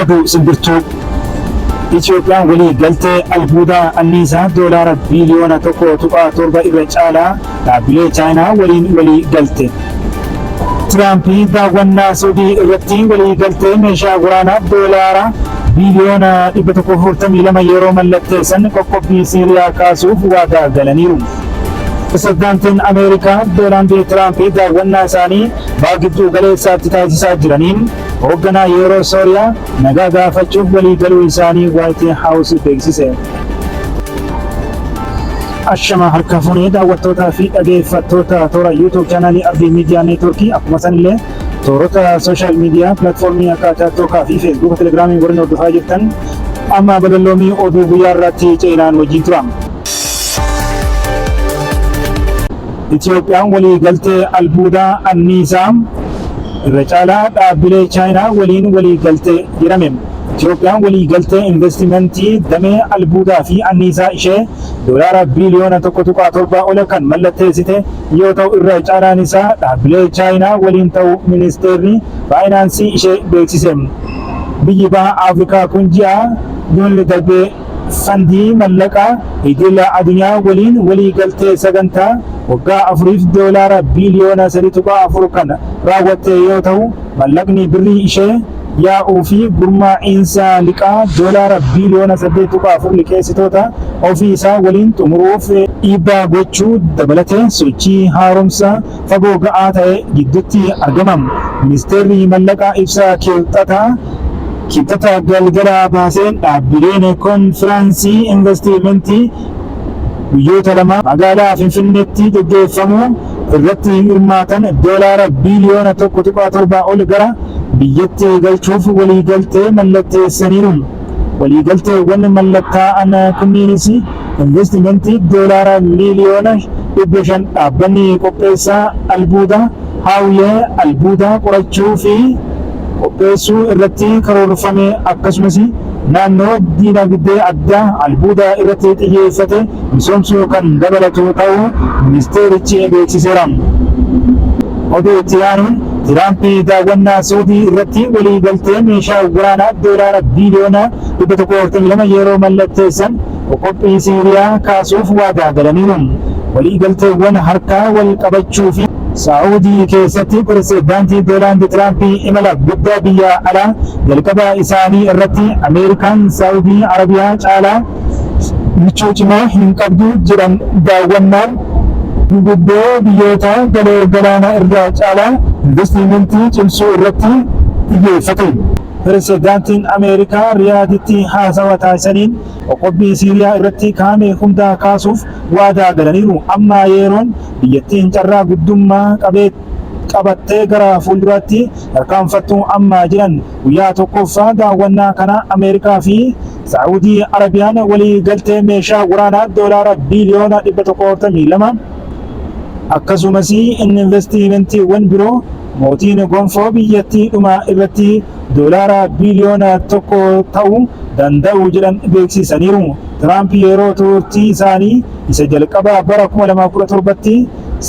Oduu simbirtuu Itoophiyaan walii galtee albuudaa anniisaa doolaara biiliyoona tokko tuqaa torba irra caalaa Dhaabbilee Chaayinaa waliin walii galte. Tiraamp daawwannaa Suudii irratti walii galtee meeshaa waraanaa doolaara biiliyoona 142 yeroo mallatteessan qoqqobbii Siiriyaa kaasuuf waadaa galaniiru. Pirezidaantiin Ameerikaa Doonaald Tiraamp daawwannaa isaanii baha gidduu galeessaatti taasisaa jiraniin hoogganaa yeroo Sooriyaa nagaa gaafachuuf walii galuu isaanii Waayit Haawus beeksise. Ashama harka fuunee daawwattootaa fi dhageeffattoota toora YouTube chaanaalii Arbii Miidiyaa Neetworkii akkuma sanillee toorota sooshaal miidiyaa pilaatfoormii akka Taaktookaa fi Feesbuuka Telegiraamii warreen hordofaa jirtan amma badalloomii oduu guyyaa irraatti ce'inaan wajjin tura. Itiyoophiyaan walii galtee albuudaa anniisaa irra caalaa dhaabbilee Chaayinaa waliin walii galtee jedhame. Itiyoophiyaan waliigaltee invastimantii damee albuudaa fi anniisaa ishee Doolaara biiliyoona 1.7 ol kan mallatteessite yoo ta'u irra caalaan isaa dhaabbilee Chaayinaa waliin ta'uu Ministeerri Faayinaansii ishee beeksise. Biyyi Baha Afrikaa kun ji'a Jun darbe Fandii mallaqaa idila adunyaa waliin walii galtee sagantaa waggaa afuriif doolaara biiliyoona 3.4 kan raawwatte yoo tahu mallaqni birrii ishee yaa'uu fi gurmaa iinsa liqaa doolaara biiliyoona 8.4 liqeessitoota ofii isaa waliin xumuruuf dhiibbaa gochuu dabalatee sochii haaromsa fagoo ga'aa ta'e giddutti argama. Ministeerri Mallaqaa ibsa Kiibxataa Kiibxata galgalaa baaseen dhaabbileen konfiraansii invastiimentii guyyoota lama magaalaa Finfinneetti gaggeeffamu irratti hirmaatan doolaara biiliyoona 1.7 ol gara biyyatti galchuuf waliigaltee mallatteessaniiru. Waliigalteewwan mallattaa'an kunniinis invastimantii Doolaara miiliyoona 500 dhaabbanni qopheessaa albuuda Haawiyee albuuda qorachuu fi qopheessuu irratti karoorfame akkasumas naannoo diinagdee addaa albuuda irratti xiyyeeffate misoomsuu kan dabalatu ta'uu ministeerichi beeksiseera. Oduu itti aanuun Tiraampi daawwannaa Suudii irratti walii galtee meeshaa waraanaa doolaara biiliyoona 142 yeroo mallatteessan qoqqobbii Siiriyaa kaasuuf waadaa galaniiru. Walii galteewwan harkaa wal qabachuu fi. Saa'udii keessatti Piresedaanti Doonaald Tiraampi imala guddaa biyyaa alaa jalqabaa isaanii irratti Ameerikaan Saa'udii Arabiyaa caalaa michuu cimaa hin qabdu jedhan daawwannaan gurguddoo biyyoota galoo galaana irraa caalaa investiimentii cimsuu irratti xiyyeeffate. Piresedaantiin Ameerikaa Riyaaditti haasawa taasisaniin qoqqobbii Siiriyaa irratti kaa'ame hundaa kaasuuf waadaa galaniiru. Amma yeroon biyyattiin carraa guddummaa qabattee gara fuulduraatti tarkaanfattu amma jedhan. Guyyaa tokkoffaa daawwannaa kanaa Ameerikaa fi Saa'udii Arabiyaan walii galtee meeshaa waraanaa doolaara biiliyoona 142 akkasumas invastiimentiiwwan biroo mootiin gonfoo biyyattii dhuma irratti doolaara biiliyoona 1 ta'u danda'u jedhan beeksiisaniiru. Tiraamp yeroo tuurtii isaanii isa jalqabaa bara 2017tti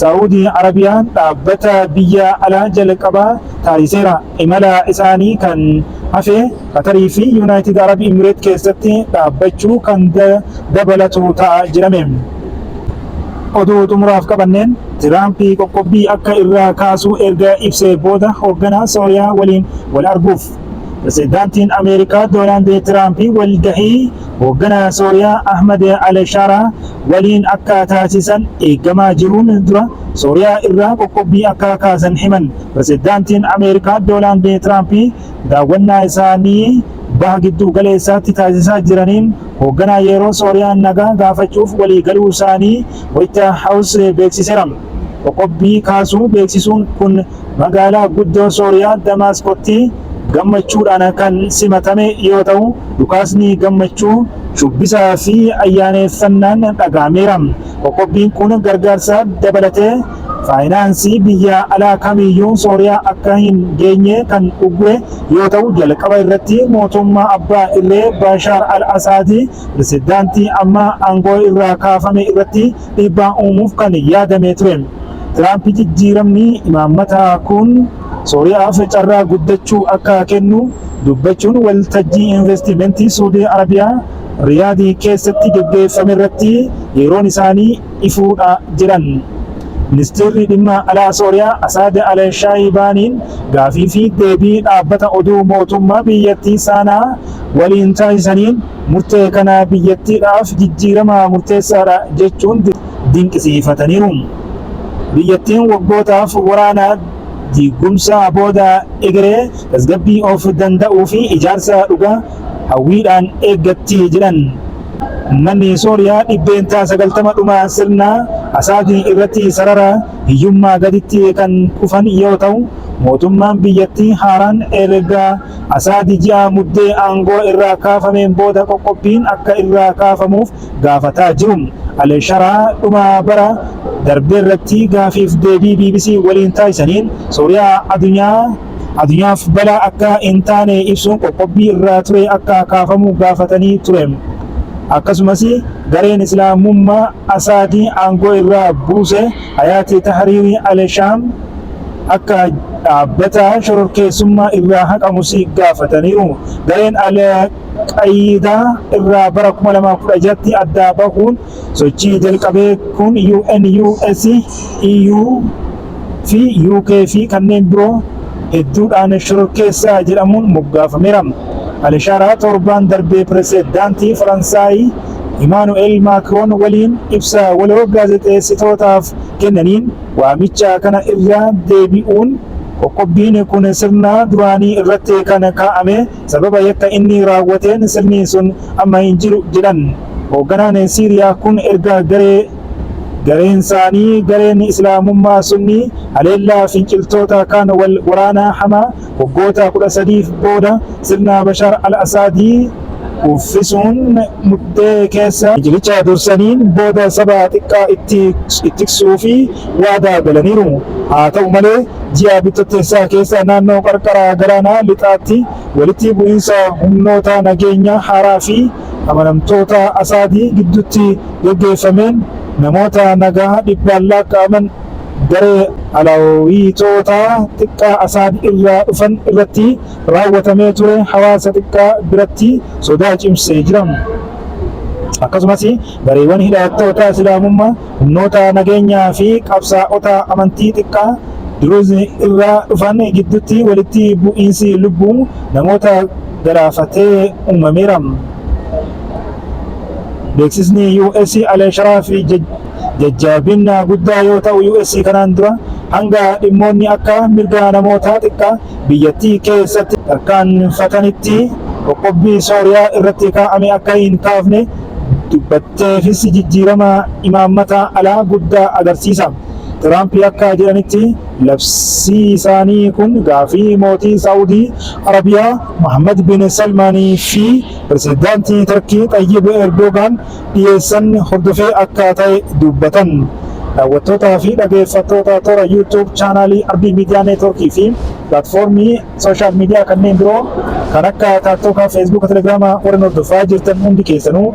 Saa'udii Arabiyaan dhaabbata biyya alaa jalqabaa taasiseera. Imala isaanii kan hafe Qatarii fi Yunaayitid Arab Imireet keessatti dhaabbachuu kan dabalatu ta'a jedhame. Oduu xumuraaf qabanneen Tiraamp qoqqobbii akka irraa kaasu erga ibsee booda hoogganaa Sooriyaa waliin wal arguuf Pirezidaantiin Ameerikaa Doonaald Tiraamp wal gahii hoogganaa Sooriyaa Ahmad al-Shaaraa waliin akka taasisan eegamaa jiruun dura Sooriyaa irraa qoqqobbii akka kaasan himan Pirezidaantiin Ameerikaa Doonaald Tiraamp Daawwannaa isaanii Baha Gidduu Galeessaatti taasisaa jiraniin hoogganaa yeroo Sooriyaan nagaa gaafachuuf walii galuu isaanii White House beeksiseera. Qoqqobbii kaasuu beeksisuun kun magaalaa guddoo Sooriyaa Damaasqotti gammachuudhaan kan simatame yoo ta'u, dhukaasni gammachuu, shubbisaa fi ayyaaneffannaan dhaga'ameera. Qoqqobbiin kun gargaarsa dabalatee. Faayinaansii biyya alaa kamiyyuu Sooriyaa akka hin geenye kan uggure yoo ta'u, jalqaba irratti mootummaa abbaa irree Baashaar al-Asaad, pirezidaantii amma aangoo irraa kaafame irratti dhiibbaa uumuuf kan yaadame ture. Tiraamp jijjiiramni imaammataa kun Sooriyaaf carraa guddachuu akka kennu dubbachuun waltajjii investimentii Suudii Arabiyaa Riyaad keessatti geggeeffame irratti yeroon isaanii ifuudha jiran. Ministiirri Dhimma Alaa Sooriyaa Asaad Al-Shaayibaaniin gaafii fi deebii dhaabbata oduu mootummaa biyyattii Saanaa waliin taasisaniin murtee kana biyyattiidhaaf jijjiirama murteessaadha jechuun dinqisiifataniiru. Biyyattiin waggootaaf waraana, diigumsa booda egeree tasgabbii of danda'uu fi ijaarsa dhugaa hawwiidhaan eeggatti jedhan. Ummanni Sooriyaa dhibbeentaa 90 dhuma sirna Asaadi irratti sarara hiyyummaa gaditti kan kufan yoo ta'u, mootummaan biyyattii haaraan erga Asaadi ji'a Muddee aangoo irraa kaafameen booda qoqqobbiin akka irraa kaafamuuf gaafataa jiru. Alii Sharaa dhuma bara darbeerratti gaafiif deebii bbc waliin taasisaniin Sooriyaa adunyaa Addunyaaf balaa akka hin taane ibsuun qoqqobbii irraa ture akka kaafamu gaafatanii ture. Akkasumas gareen Islaamummaa Asaad aangoo irraa buuse Hayaat Tahriir al-Shaam akka dhaabbata shororkeessummaa irraa haqamus gaafataniiru. Gareen al-Qayiidaa irraa bara 2016tti adda bahuun Sochii jalqabee kun UN, US, EU fi UK fi kanneen biroo hedduudhaan shororkeessaa jedhamuun moggaafameera. Alishaaraa torbaan darbee Piresedaantii Faransaay Imaanu'eel Maakroon waliin ibsa waloo gaazexeessitootaaf kennaniin waamicha kana irra deebi'uun qoqqobbiin kun sirna duraanii irratti kan kaa'ame Sababa yakka inni raawwateen sirni sun amma hin jiru, jedhan. Hoogganaan Siiriyaa kun erga garee gareensaanii gareen Islaamummaa Sunnii haleellaa finciltoota kaan wal waraanaa hamaa waggoota 13f booda sirna Bashaar al-Asaadii kuffisuun mudhee keessa fincilicha dursaniin booda saba xiqqaa itti tiksuufi waadaa galaniiru. Haa ta'u malee, Ji'a Bitottessaa keessa naannoo qarqara galaanaa lixaatti walitti bu'iinsa humnoota nageenyaa haaraa fi amanamtoota Asaadi gidduutti gaggeeffameen namoota nagaa dhibbaan laakka'aman garee Alawiitoota xiqqaa Asaad irraa dhufan irratti raawwatamee ture hawaasa xiqqaa biratti sodaa cimsee jira. Akkasumas gareewwan hidhattoota Islaamummaa Humnoota nageenyaa fi qabsaa'ota amantii xiqqaa Druze irraa dhufan giddutti walitti bu'iinsi lubbuu namoota galaafate uumameera. Beeksisni US Al Sharaf jajjabinna guddaa yoo ta'u US kanaan dura hanga dhimmoonni akka mirga namoota xiqqaa biyyattii keessatti tarkaanfatanitti qoqqobbii Sooriyaa irratti kaa'ame akka hin kaafne dubbatte. ta'eefis jijjiirama imaammata alaa guddaa agarsiisa. Tiraamp akka jedhanitti, labsii isaanii kun gaaffii mootii Saa'udii Arabiyaa Mohaammad bin Salmaan fi pirezidaantii Tarkii Xayyib Erdoogaan dhiyeessan hordofee akka ta'e dubbatan. Daawwattootaa fi dhageeffattoota toora YouTube chaanaalii Ardii Miidiyaa Neetwoorkii fi pilaatfoormii sooshaal miidiyaa kanneen biroo kan akka Taaktoka, Feesbuuka, Telegiraama warren hordofaa jirtan hundi keessanuu